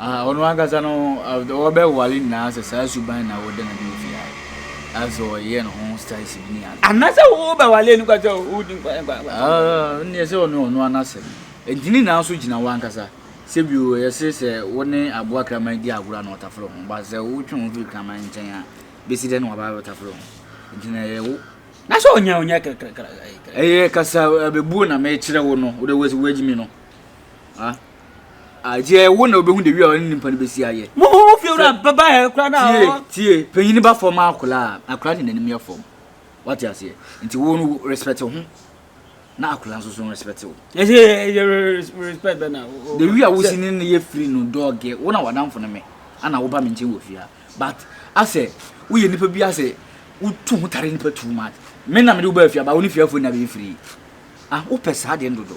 Ah, ɔno ankasa no, wɔbɛwale nyinaa sɛ saa suban na wɔda no adi ofi ha. Asɛ ɔyɛ ne ho Stacy bi ne ade. Anasɛ wobɛwale no kwa sɛ wodi nkwa. Ah, nneɛ sɛ ɔne ɔno anasɛm. Enti ne nyinaa so gyina wankasa. Sɛ bio, ɛyɛ se sɛ wo ne aboa kraman di agorɔ a na watafere ho. But sɛ wotwe wo ho firi kraman nkyɛn a, bɛsi dɛn na waba abɛtafere ho? Enti na ɛyɛ wo. Na sɛ ɔnyɛ a, ɔnyɛ krakrakra. Ɛyɛ kasa abɛbuo na mekyerɛ wo no, wode w'asi w'agyimi no. Ah. Agye wo na wobɛhu de wi a ɔne nipa no bɛsi ayɛ. Mumu mu fiewura bɛba yɛ kura na tie ɔwɔ. tie panyin ba fam akora a akora de n'anim yɛ fam wate aseɛ nti wo no respect ho na akora nso so respect wo. Ɛsɛ yɛ yɛ respect bɛ na. the wi a wosi ne ne yɛ firi no dɔɔge wo na wadamfo no me ana woba me nkyɛn wɔ fie a but asɛ woyɛ nipa bi asɛ wotu ho tare nipa too much me na mede wo ba fie a ba wo ne fie afo na bɛyɛ firi ah wopɛ saa deɛ ndodo.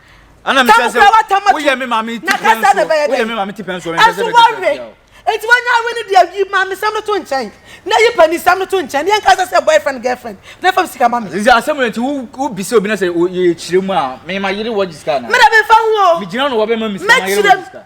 ɛna mi sɛ sɛ woyɛ mi maame ti pɛn so woyɛ mi maame ti pɛn so mi pɛn sɛ mi ti pɛn so. Eti wɔn nyɛ awi ni deɛ yi maame sɛm no to nkyɛn na yi pɛ ni sɛm no to nkyɛn yɛn kasa sɛ boyfriend girlfriend na fam sika ma mi. Sisi asɛm no nti wo wo bisa obi na sɛ yɛ kyerɛ mu a mi ma yere wɔ gyi sika na. Mi na mi fa ho o. Mi gyina no wɔ bɛ ma mi sika ma yere wɔ gyi sika.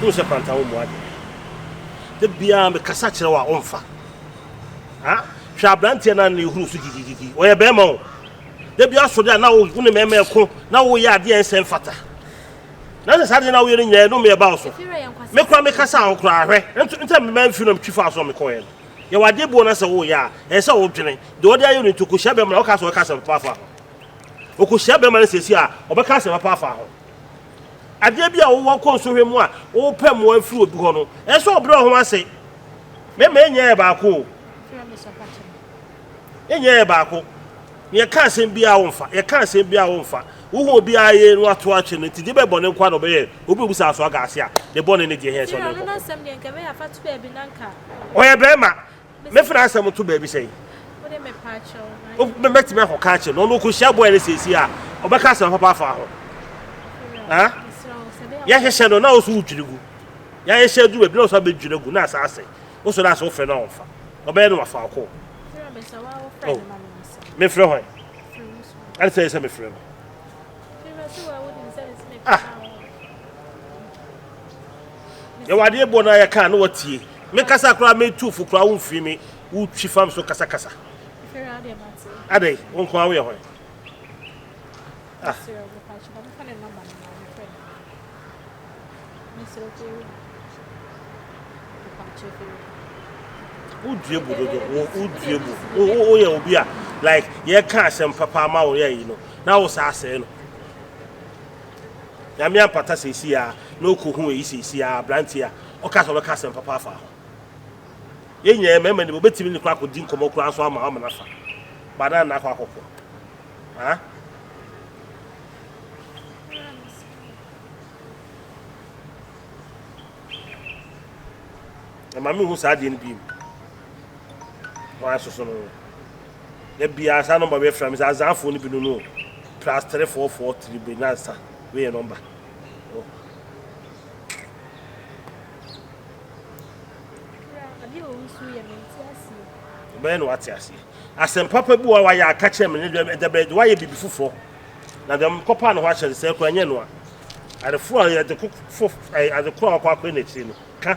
wohu sɛ panta wo mmoa deɛ da biara mekasa kyerɛ wo a womfa hwɛ aberanteɛ no a na ɛhuru so gyigyigyigyi ɔyɛ bɛrima o Da bi ara sɔre a na wo ne mmarima reko na woyɛ adeɛ a ɛnsɛ mfata. Na sɛ saa adeɛ na woyɛ no nyinaa ɛnome ɛba wo so. Me koraa me kasa ho koraa hwɛ ntɛm mema mfiri na metwi faa so a mekɔɛ no. Yɛwɔ adeɛ buo na sɛ woyɛ a ɛsɛ sɛ wodwene deɛ ɔde ayɛ no nti ɔkɔhyia bɛrima na woka sɛ ɔbɛka asɛm papa afa ho. Ɔkɔhyia bɛrima no sɛsi a ɔbɛka asɛm papa afa ho. Adeɛ bi a wowɔ nkɔnsohwɛ mu a wopɛ mmoa mfiri obi hɔ no ɛsɛ sɛ ɔbrɛ wo ho ase. Mɛma ɛnyɛ yɛ baako o. Yɛn nyinaa yɛ baako. Na yɛka asɛm biara a womfa. Yɛka asɛm biara a womfa. Wohu obiara yie na watow akyɛ no nti, gye bɛ bɔne nko ara na ɔbɛyɛ. Obi a obu saa so aga ase a, ne bɔne ne deɛ ɛhia sɛ ɔne no kɔko. Ɔyɛ barima. Mɛfa n'asɛm nto baabi sɛn? Mɛtumi akɔka akyerɛ no. Ɔno ɔkɔhyia bɔe no seesei a, ɔbɛka asɛm papa afa ho. Yɛhyehyɛ no na wo nso wodwiri gu. Yɛahyehyɛ aduru baabi na wo nso abɛdwiri agu na asan asɛe. Wo sɔ no ase wo frɛ no a ɔmfa. Ɔbɛyɛ no wafa ɔkɔ. Kyerɛ me sɛ wa wo frɛ oh. no ma me nsa. Me frɛ hwan? Ɛne sɛ yɛ sɛ me frɛ no. Ah. Yɛwɔ adeɛ bɔ no a yɛka na wɔtie. Me kasa koraa metu fo koraa wo mfiri me wo twi fam so kasakasa. Adɛn wo nko a woyɛ hwan? Ah. wodue bu dodo wo wodue bu wo wo woyɛ obi a like yɛka asɛm papa ama wo yɛ yi no na wo saa asɛe no nyame ampata sɛsi a na ɔkɔ hu eyi sɛsi a aberanteɛ a ɔka sɛ ɔbɛka asɛm papa afa ho yɛn nyinaa mɛma ne bɛtumi ne kora akɔdi nkɔmmɔ koraa nso ama ama no afa ba na nna akɔ akɔkɔ ha na maame hu saa adeɛ no biem wɔn asoso no da biara saa nɔmba bɛyɛ fira mi sɛ azanfoɔ no bi no no plus three four four three bɛ nansa bɛyɛ nɔmba bɛyɛ na wate aseɛ asɛm papa bi wa wayɛ aka kyerɛ me ne dɛm ɛdɛbɛ wayɛ biribi foforɔ na deɛ mekɔpɛ a ne ho ahyɛ no sɛɛ koraa, ɛnyɛ ɛno a, adefoɔ a yɛde ko fo ɛɛ adeko a wɔkɔ akɔyɛ n'akyiri no ka.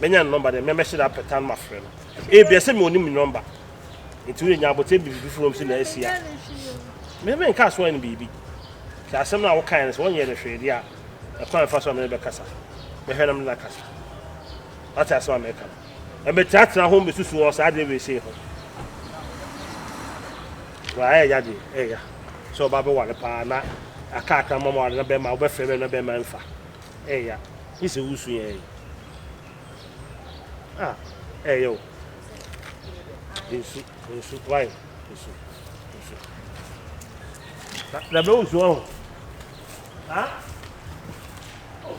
mɛnya ne nɔmba dɛn? Me a mɛhyɛ da apɛ tan mafrɛ no. Ebia sɛ mewɔ ne mu nɔmba nti wode nya abotire biribi foforɔ wɔ mu sɛ na asi a me menka asoa no biribi. Sɛ asɛm no a wokae no sɛ wɔnyɛ no hwee deɛ a, ɛkwan mfa so a mene bɛkasa. Mɛhwɛ na mene no akasa. Wate asɛm a meka no? Ɛmɛtenatena ho mbɛsusu wɔ saa adeɛ wei sei ho. Wa ɛɛya deɛ ɛɛya sɛ ɔba bɛware paa na akaakra mama ware na bɛma wobɛfrɛ bɛma bɛma mfa. Ɛya gye sɛ wo su yɛ ɛyɛ a ɛyɛ o nsu nsu why nsu nsu na na bɛ nsu ɔho ha oh.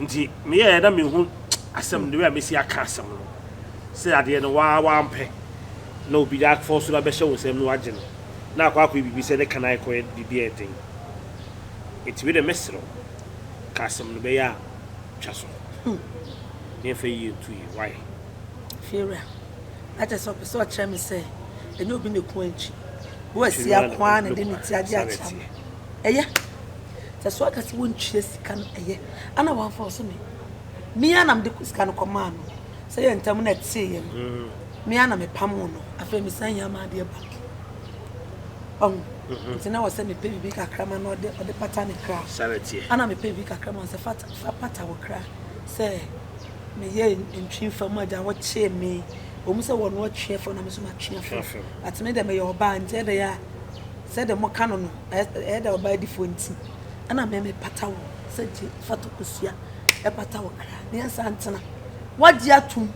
nti meyɛɛ na mehu asɛm the way a mesi aka asɛm no sɛ adeɛ no waa wampɛ na obi de afɔ so na bɛhyɛ wo nsɛm no wagye no na akɔ akɔyɛ biribi sɛ ne ka no akɔyɛ biribi a ɛden nti wei dɛ mɛserɛ ka asɛm no bɛyɛ a twa so ne ɛmfa yie nto yie why fiewura na kyerɛ sɛ ɔpɛ sɛ ɔkyerɛ me sɛ ɛnyɛ obi na ɛku ankyi wo asia ko a na de ne ti agye akyerɛ ɛyɛ sɛ so aka sɛ wontua sika no ɛyɛ a na wamfa ɔse me me ara na mede sika no kɔmaa no sɛ yɛ ntam na ɛteeɛ no mm-hmm. me ara na mepamoo no afei mesan yɛ ama adeɛ ba ɔho mm-hmm. nti na wɔ sɛ mepɛ biribi kakra ma na ɔde ɔde pata ne kra ana mepɛ biribi kakra ma sɛ fa pata wo kra sɛ meyɛ ntwi fa mu agya wɔkyee me wɔn sɛ wɔn atwe fam na me nso matwe fam atene dɛ meyɛ ɔbaa nkyɛn dɛ yɛ a Sɛ dɛ mɔka no no, ɛyɛ dɛ ɔbaa difoɔ ntsi ana me me pata wo sɛ gye fata kosua ɛpata wo kra ne ɛnsa ntena wagye atum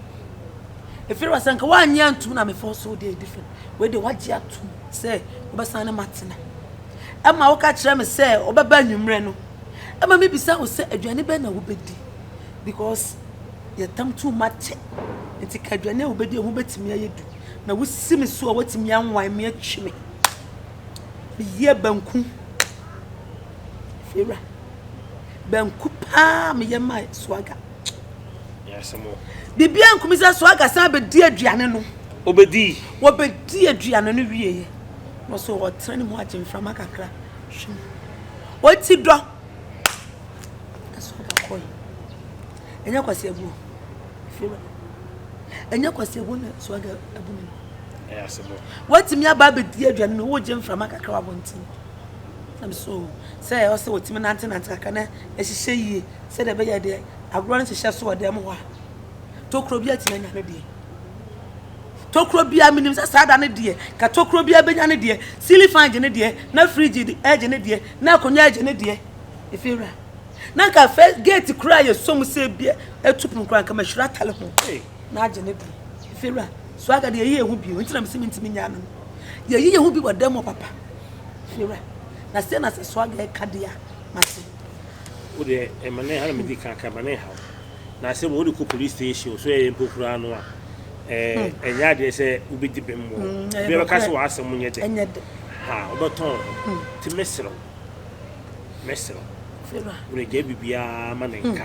ɛfiri wɔ sɛ nka wanye antum na mefɔ so deɛ different wei deɛ wagye atum sɛ wobɛsan ne matena ɛma woka kyerɛ me sɛ wobɛba anwummerɛ no ɛma me bisa wo sɛ aduane bɛn na wobɛdi because yɛtam too much nti ka aduane a wobɛdi ɛho bɛtumi ayɛ du na wosi me so a watumi anwan me atwi me meyɛ banku fira banku paa meyɛ ma swaga biribi ankumi sɛ swaga san bɛdi aduane no obɛdi wɔbɛdi aduane no wieɛ na ɔsɛ ɔtena ne mu agye mframa kakra hwem ɔti dɔ swaga kɔe ɛnyɛ kwasi abuo fira ɛnyɛ kwasi abuo na swaga abu ne no Watumi aba abɛdi aduane no, wogye mframa kakra wɔ abɔnten. Ɛm so sɛ ɛwɔ sɛ wɔtumi nantenante kakra na ɛhyehyɛ yie sɛdeɛ ɛbɛyɛ deɛ agorɔ no hyehyɛ so wɔ dɛm hɔ a, tokuro bi atumi anya ne deɛ. Tokuro biara menim sɛ saa da no deɛ, ka tokuro biara bɛnya ne deɛ, sili fan gye ne deɛ, na firigye gye ne deɛ, na akonnwa gye ne deɛ. Ɛfie wura. Na nka fɛ geeti koraa yɛ som sɛ bi atu pono koraa nka mahyira atale ho. na agye ne bere. Efewura, so aga de yɛyi yɛn ho bio? Nti na mese mentumi nyaa no no. Yɛyi yɛn ho bi wɔ dan mu papa. Efewura, na sɛ na sɛ so aga ɛka de a, mate. Wo deɛ, ɛma ne ha na medi kan ka, ɛma ne haw. Na asɛm wɔ wode kɔ police station so ɛyɛ mpo koraa no a, ɛnyɛ adeɛ sɛ wobɛdi bem wɔ. Bia bɛka sɛ w'asɛm nyɛ dɛ. Ɛnyɛ dɛ. Ha, wobɛtɔn ho. Nti mɛserɛ wo, mɛserɛ wo. Efewura. Wode gyae biribiara ma ne nka.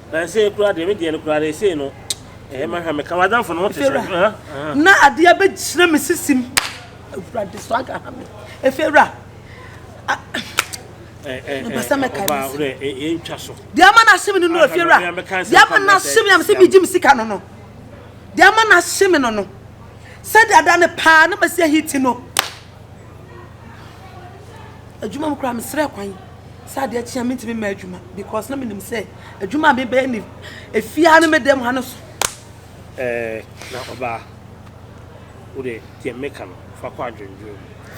Na ɛsei koraa deɛ, me deɛ no koraa no, ɛsei no, ɛɛ ma hwɛ, meka w'adamfo no ho te sɛ, ha, ha. Na adeɛ abɛgyina me sisim. Awurade so aga ha me. Efewura. Mepɛ sɛ mɛka ɔbaa wo dɛ ɛntwa so. Deɛ ama no ahye me no no efewura. Deɛ ama no ahye me a mesɛ megye me sika no no. Deɛ ama no ahye me no no. Sɛdeɛ ada no paa na masi ahiti no. Adwuma mu koraa mesrɛ kwan. sɛ adeɛ kye a mentumi mma adwuma because na menim sɛ adwuma a mebɛyɛ ne ɛfiaa no meda mu ha no so eh, na ɔbaa wode deɛ meka no fa kɔ adwendwen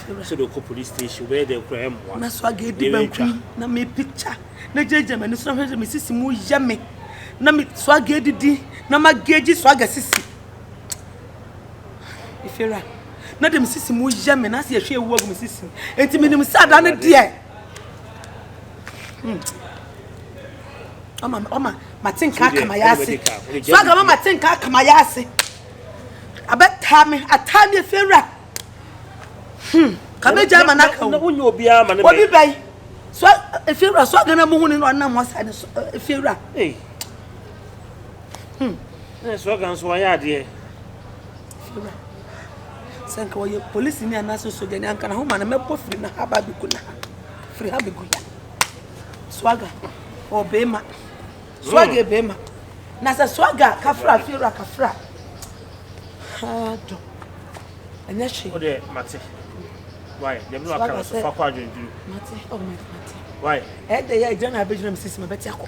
mu sɛ de wokɔ police station wobɛyɛ dɛ kora ɛmmoa na so aga di banku na me picture na gyagya m'ani so na hwɛ sɛ mesisi mu yɛ me na me so aga didi na magagyi so aga sisi ifera na de mesisi mu yɛ me na sɛ yɛhwɛ ɛwu agu mesisi enti menim sɛ ada no deɛ Hmm. Ọma ọma mate nka aka ma ya ase. So aga ma mate nka aka ma ya ase. Abɛtaa me ataa me efi awura. Hmm. Ka me gya ma na ka o. Na wonye obi ama ne me. Obi bɛyi. So efi awura so aga na mo hu ne na ɔnam ɔsa ne so efi awura. Ee. Hmm. Na so aga nso ɔyɛ adeɛ. Sera, Sɛ nka ɔyɛ polisini anaasɛ sogyani anka na ho ma no mɛbɔ firi no ha ba bɛgu no ha firi ha bɛgu ya swaga ɔbɛɛma swaga hmm. bɛɛma na sɛ swaga kafra fiewura kafra ha dɔ ɛnyɛ hwee. o de mate why dɛm na ɔka no so fa kɔ adwenduru. mate ɔmɛ oh, mate. why. ɛyɛ dɛ yɛ ɛgyina na abɛgyina mi sisi ma bɛte akɔ.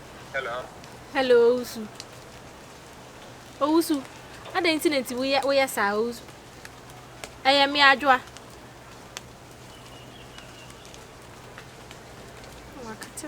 Hello, Owusu. Owusu, adɛn nti na nti woyɛ woyɛ saa Owusu? Ɛyɛ me adwoa. Wakata.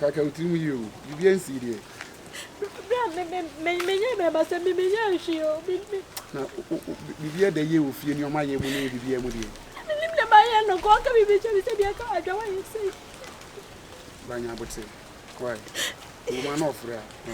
Kaka wo tirim yie o, biribiara nsii deɛ. Bere a me me menyɛ bɛrima sɛ me menyɛ nhwee o. Na biribiara da yie wɔ fie nneɛma yɛ mu ne biribiara mu deɛ. Menim deɛ mayɛ no, kɔɔ ka biribi kyɛ me sɛ deɛ ka adwa wayɛ sei. Banya abote, why? Woma na ɔfrɛ a.